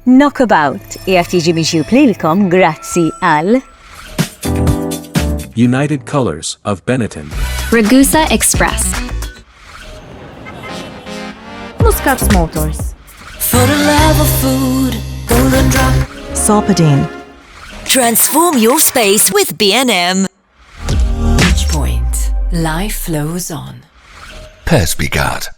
Knockabout qiegħed jiġi miġjub lilkom grazzi għal United Colors of Benetton. Ragusa Express. Muscat Motors. For the love of food, golden drop. Sopadine. Transform your space with B&M. Beach Point. Life flows on. Perspicard.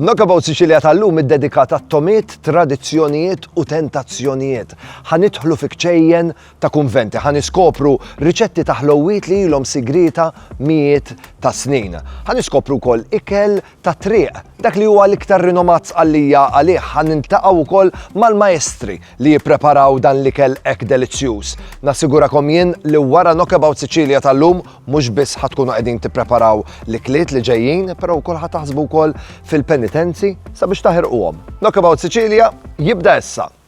Knockabout Sicilia tal-lum id-dedikat għat-tomiet, tradizzjonijiet u tentazzjonijiet. Ħanidħlu fi kċejjen ta' kunventi, ħaniskopru riċetti ta' ħlowit li ilhom sigrita mijiet ta' snin. Ħaniskopru wkoll ikel tat-triq, dak li huwa l-iktar rinomat Sqallija għalih ħa niltaqgħu wkoll mal-maestri li jippreparaw dan l-ikel hekk delizzjuż. Nassigurakom jien li wara Knockabout Sicilia tal-lum mhux biss ħa tkunu qegħdin tippreparaw l-ikliet li ġejjin però wkoll ħa taħsbu wkoll fil-penitenzi sabiex taħirquhom. Knockabout Sicilia jibda issa!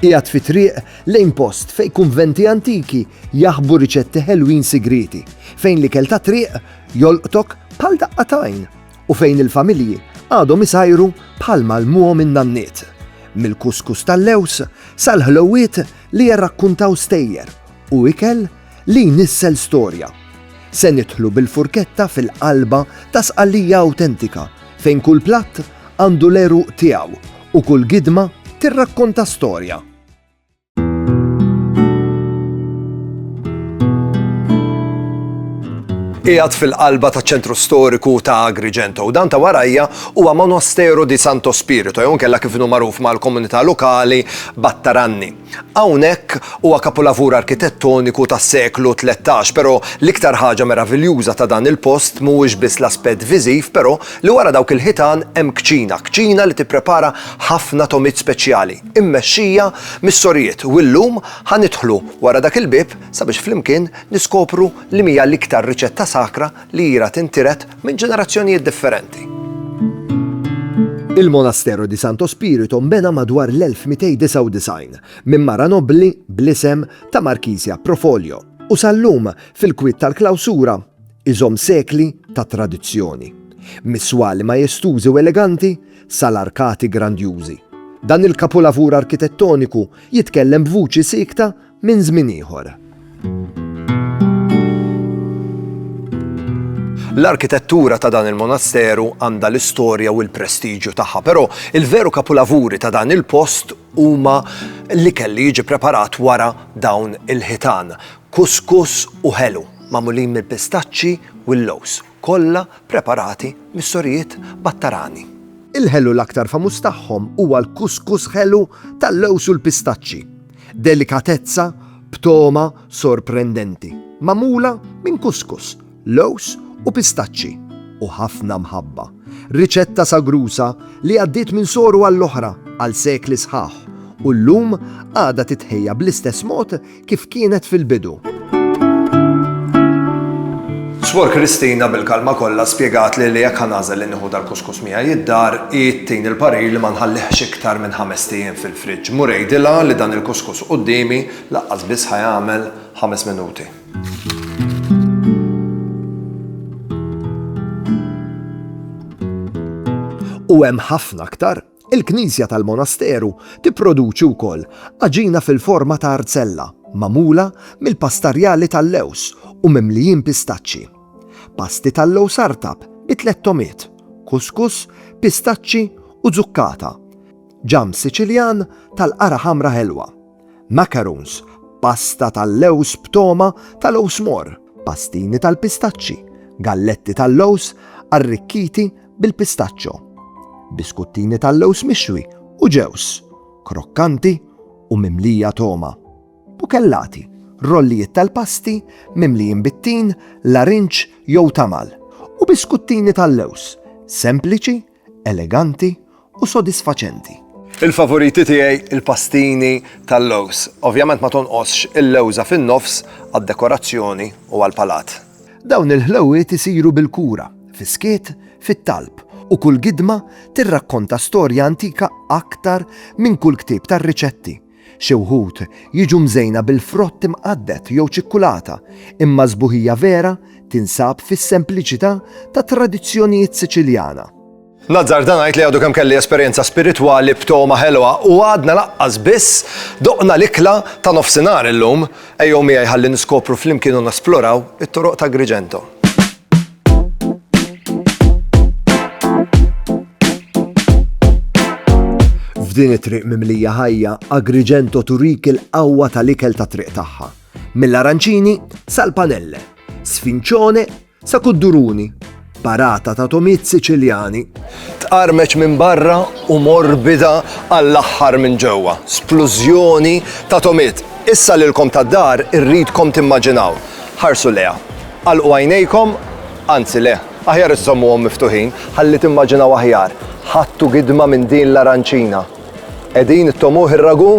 Qiegħed fi triq lejn post fejn kunventi antiki jaħbu riċetti ħelwin sigrieti, fejn l-ikel tat-triq jolqtok bħal daqqa t'għajn, u fejn il-familji għadhom isajru bħalma għallmuhom in-nanniet, mill-kuskus tal-lewż sal-ħlewwiet li jirrakkuntaw stejjer u ikel li jnissel storja. Se nidħlu bil-furketta fil-qalba ta' Sqallija awtentika fejn kull platt għandu l-għeruq tiegħu u kull gidma tirrakkonta storja. Qiegħed fil-qalba taċ-ċentru storiku ta' Agrigento u dan ta' warajja huwa Monastero di Santo Spirito jew inkella kif inhu magħruf mal-komunità lokali Battaranni. Hawnhekk huwa kapulavur arkitettoniku tas-seklu tlettax, però l-iktar ħaġa meraviljuża ta' dan il-post mhuwiex biss l-aspett viżiv, però li wara dawk il-ħitan hemm kċina, kċina li tipprepara ħafna togħmiet speċjali, immexxija mis-sorijiet u llum ħa nidħlu wara dak il-bieb sabiex flimkien niskopru li mhija l-iktar riċetta sakra li hira tintiret minn ġenerazzjonijiet differenti. Il-Monastero di Santo Spirito nbena madwar l-1299 minn mara nobbli bl-isem ta' Markizja Profolio u sal-lum fil-kwiet tal-klawsura iżomm sekli ta' tradizzjoni. Mis-swali majestużi u eleganti sal-arkati grandjużi, dan il-kapulavur arkitettoniku jitkellem b'vuċi siekta minn żmien ieħor. L-arkitettura ta' dan il-monasteru għandha l-istorja u l-prestiġju tagħha, però il-veru kapulavuri ta' dan il-post huma li kelli jiġi preparat wara dawn il-ħitan, kuskus u ħelu, magħmulin mill-pistaċċi u l-lows. kollha preparati mis-sorijiet Battarani. Il-ħelu l-aktar famuż tagħhom huwa l-kuskus ħelu tal-lewż u l-pistaċċi, delikatezza b'togħma sorprendenti, magħmula minn kuskus, lewż u pistaċċi, u ħafna mħabba. Riċetta sagruża li għaddiet minn soru għall-oħra għal sekli sħaħ u llum għadha titħejja bl-istess mod kif kienet fil-bidu. Suor Kristina bil-kalma kollha spjegatli li jekk ħa nagħżel li nieħu dal-kuskus miegħi d-dar, hi ttini l-parir li ma nħallihx iktar minn ħamest ijiem fil-friġġ. Mur għidilha li dan il-kuskus quddiemi laqqas biss ħa jagħmel ħames minuti. U hemm ħafna aktar. Il-knisja tal-monasteru tipproduċi wkoll għaġina fil-forma ta' arzella magħmula mill-pastarjali tal-lewż u mimlijin pistaċċi, pasti tal-lewż artab bi tliet togħmiet, kuskus, pistaċċi u zukkata, ġamm Siċiljan tal-qara ħamra ħelwa. macaroons, pasta tal-lewż b'togħma ta' lowż mor, pastini tal-pistaċċi, galletti tal-lowż arrikkiti bil-pistaċċo, biskuttini tal-lewż mixwi u ġewż, krokkanti u mimlija togħma, bukellati, rollijiet tal-pasti mimlijin bit-tin, larinġ jew tamal, u biskuttini tal-lewż sempliċi eleganti u sodisfaċenti. Il-favoriti tiegħi l-pastini tal-lewż. Ovvjament ma tonqosx il-lewża fin-nofs għad-dekorazzjoni u għall-palat. Dawn il-ħlewwiet isiru bil-kura, fis-skiet, fit-talb, u kull gidma tirrakkonta storja antika aktar minn kull ktieb tar-riċetti. Xi wħud jiġu mżejna bil-frott imqadded jew ċikkulata, imma s-sbuħija vera tinsab fis-sempliċità tat-tradizzjonijiet Siċiljana. Nazzarda ngħid li għadu kemm kelli esperjenza spiritwali b'togħma ħelwa u għadna laqqas biss doqna l-ikla ta' nofsinhar illum. Ejjew miegħi ħalli niskopru flimkien u nesploraw it-toroq t'Agrigento. F'din it-triq mimlija ħajja, Agrigento turik il-qawwa tal-ikel ta' triq tagħha. Mill-aranċini sal-panelle, sfinċone sa' kudduruni, barata ta' tomiet Siċiljani. Tqarmeċ minn barra u morbida għall-aħħar minn ġewwa, splużjoni ta' tomiet. Issa lilkom tad-dar irridkom timmaġinaw. Ħarsu lejha. Agħlqu għajnejkom, anzi le, aħjar iżżommuhom miftuħin, ħalli timmaġinaw aħjar, ħadtu gidma minn din l-aranċina. Qegħdin ittomuh ir-ragù?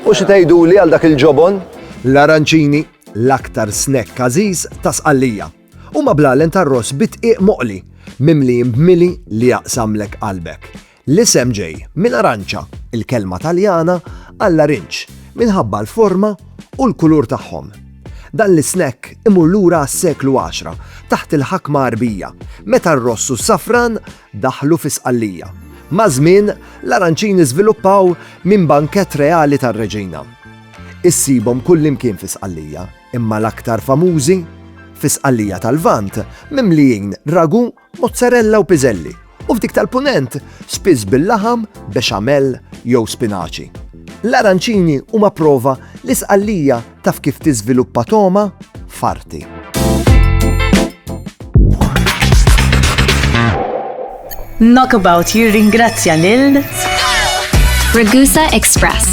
U xi tgħiduli għal dak il-ġobon? L-aranċini, l-aktar snack għażiż ta' Sqallija. Huma bl-għalen tar-ross bid-dqiq moqli, mimlijin b'mili li jaqsamlek qalbek. L-isem ġej minn aranċa, il-kelma Taljana għall-arinġ, minħabba l-forma u l-kulur tagħhom. Dan l-isnekk imur lura għas-seklu għaxra taħt il-ħakma Għarbija, meta r-ross u s-safran daħlu fi Sqallija. Maż-żmien, l-aranċini żviluppaw minn bankett reali tar-reġina. Issibhom kullimkien fi Sqallija, imma l-aktar famużi fi Sqallija tal-Lvant mimlijin ragu mozzarella u piżelli, u f'dik tal-Punent spiss bil-laħam, bexamel jew spinaċi. L-aranċini huma prova li Sqallija taf kif tiżviluppa togħma f'arti. Knockabout jirringrazzja lil Ragusa Express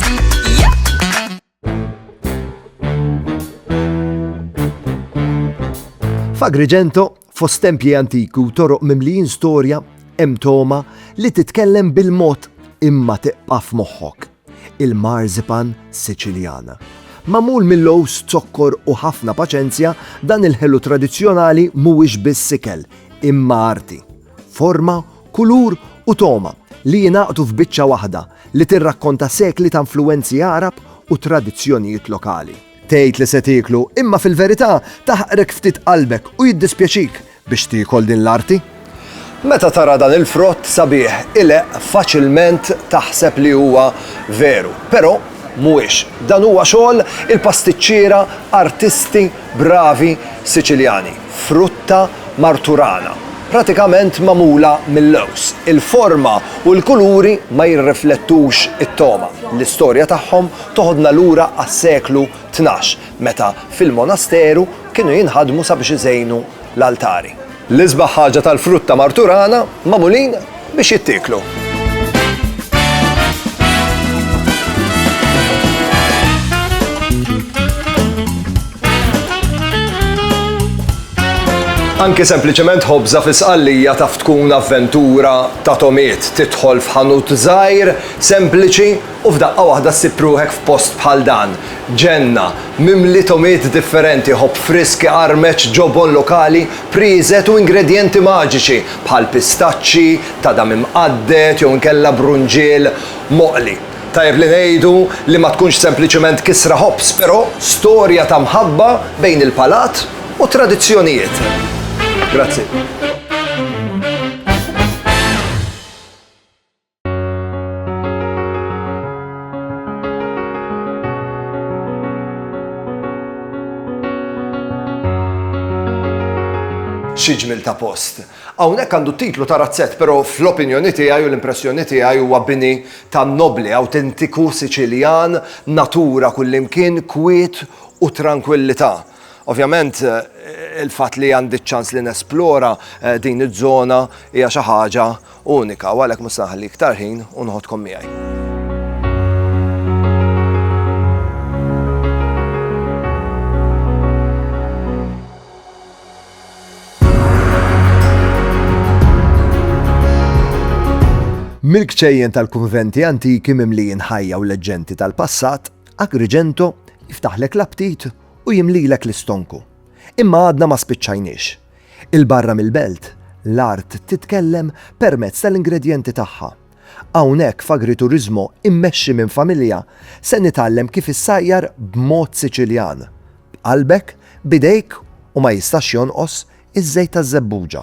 F'Agrigento, fost tempji antiki u toroq mimlijin storja, hemm toma li titkellem bil-mod imma tiqqa' f'moħħok. Il-marzipan Siċiljana. Magħmul mill-owż, zokkor u ħafna paċenzja, dan il-ħelu tradizzjonali mhuwiex biss ikel, imma arti. Forma, kulur u togħma li jingħaqdu f'biċċa waħda li tirrakkonta sekli ta' influwenzi Għarab u tradizzjonijiet lokali. Tgħid li se tieklu, imma fil-verità taħqrek ftit qalbek u jiddispjaċik biex tiekol din l-arti. Meta tara dan il-frott sabiħ ileqq faċilment taħseb li huwa veru, però mhuwiex. Dan huwa xogħol il-pastiċċiera, artisti, Bravi Siċiljani, frutta marturana, pratikament magħmula mil-lewż. Il-forma u l-kuluri ma jirriflettux it-togħma. L-istorja tagħhom toħodna lura għas-seklu tnax, meta fil-monasteru kienu jinħadmu sabiex iżejnu l-altari. L-isbaħ ħaġa tal-frutta marturana magħmulin biex jittieklu. Anki sempliċement ħobża fi sqallija taf tkun avventura ta' tomiet tidħol f'ħanut żgħir sempliċi U f'daqqa waħda ssib ruħek f'post bħal dan, ġenna, mimli togħmiet differenti, ħobb frisk iqarmeċ, ġobon lokali, prieżet u ingredjenti maġiċi bħal pistaċċi, tadam imqadded jew inkella brunġiel moqli. Tajjeb li ngħidu li ma tkunx sempliċement kisra ħobż, però storja ta' mħabba bejn il-palat u t-tradizzjonijiet. Grazzi. Xi ġmiel ta' post! Hawnhekk għandu t-titlu ta' razzett però fl-opinjoni tiegħi u l-impressjoni tiegħi huwa bini ta' nobbli awtentiku Siċiljan, natura kullimkien, kwiet u trankwillità. Ovvjament il-fatt li għandi ċ-ċans li nesplora din iż-żona hija xi ħaġa Unika, u għalhekk mhux se nħalli iktar ħin u noħodkom miegħi. Mill-kċejjen tal-kunventi antiki mimlijin ħajja u leġġenti tal-passat, Agrigento jiftaħlek l-aptit u jimlilek l-istonku. Imma għadna ma spiċċajniex. 'il barra mill-belt, l-art titkellem permezz tal-ingredjenti tagħha. Hawnhekk f'Agrituriżmo mmexxi minn familja se nitgħallem kif issajjar b'mod Siċiljan, b'qalbek, b'idejk u ma jistax jonqos iż-żejt taż-żebbuġa.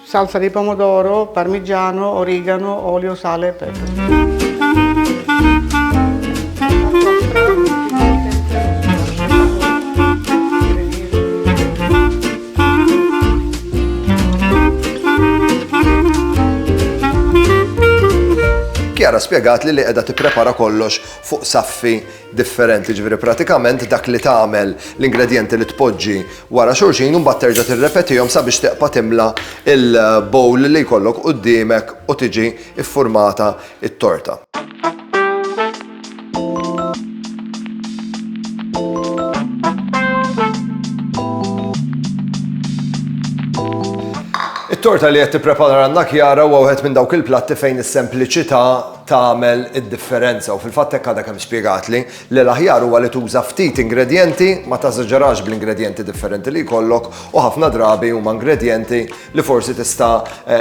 Salsa di pomodoro, parmigiano, origano, olio, sale e pepe. Kjara spjegat li li qiegħda tipprepara kollox fuq saffi differenti, jiġifieri pratikament dak li tagħmel, l-ingredjenti li tpoġġi wara xulxin u mbagħad terġa' tirrepetihom sabiex teqpa' timla l-bowl li jkollok quddiemek u tiġi ffurmata t-torta. It-torta li qed tipprepara għandna Chiara huwa wieħed minn dawk il-platti fejn is-sempliċità tagħmel id-differenza u fil-fatt hekk għadha kemm spjegatli li l-aħjar huwa li tuża ftit ingredjenti, ma teżaġerax bl-ingredjenti differenti li jkollok u ħafna drabi huma ingredjenti li forsi tista'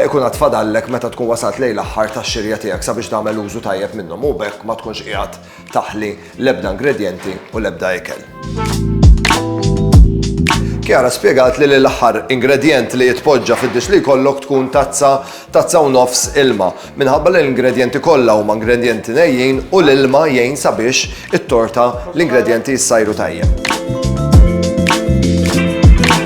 jkun għad fadallek meta tkun wasalt lejn l-aħħar tax-xirja tiegħek sabiex tagħmel użu tajjeb minnhom u b'hekk ma tkunx qiegħed taħli l-ebda ingredjenti u l-ebda ikel. Kiara spjegat li l-aħħar ingredjent li jitpoġġa fid-dix li jkollok tkun tazza, tazza u nofs ilma, minħabba li l-ingredjenti kollha huma ingredjenti nejjin u l-ilma jgħin sabiex it-torta l-ingredjenti jissajru tajjeb.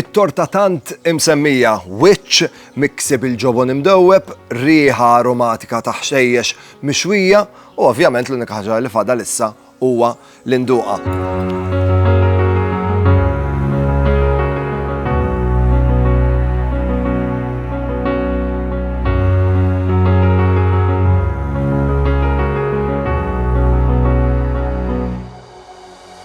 It-torta tant imsemmija, wiċċ miksi bil-ġobon imdewweb, riħa aromatika ta' ħxejjex mixwija u ovvjament l-unika ħaġa li fadal issa huwa li nduqha.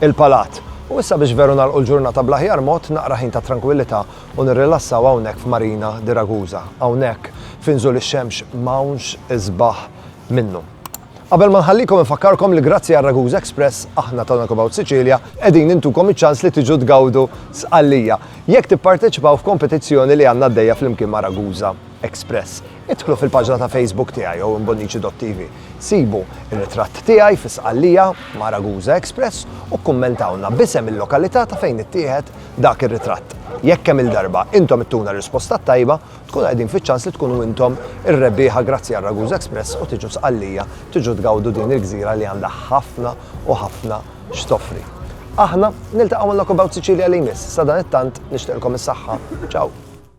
il-Palat. U issa biex veru nagħlqu l-ġurnata bl-aħjar mod, naqra ħin ta' trankwillità u nirrilassaw hawnhekk f'Marina di Ragusa, hawnhekk fi nżul ix-xemx m'hawnx isbaħ minnu. Qabel ma nħallikom infakkarkom li grazzi għal Ragusa Express aħna ta' Knockabout Sicilia qegħdin intukom iċ-ċans li tiġu tgawdu Sqallija jekk tipparteċipaw f'kompetizzjoni li għandna għaddejja flimkien ma' Ragusa Express. Idħlu fil-paġna ta' Facebook tiegħi jew imbonnici.tv. Sibu r-ritratt tiegħi fi Sqallija ma' Ragusa Express u kkummentawlna b'isem il-lokalità ta' fejn ittieħed dak ir-ritratt. Jekk kemm-il darba intom ittuna r-risposta t-tajba, tkunu qegħdin fiċ-ċans li tkunu intom ir-rebbieħa grazzi għal Ragusa Express u tiġu Sqallija tiġu tgawdu din il-gżira li għandha ħafna u ħafna x'toffri. Aħna niltaqgħu ma' Knockabout Sicilia li jmiss, sadanittant nixtieqlkom is-saħħa. Ciao!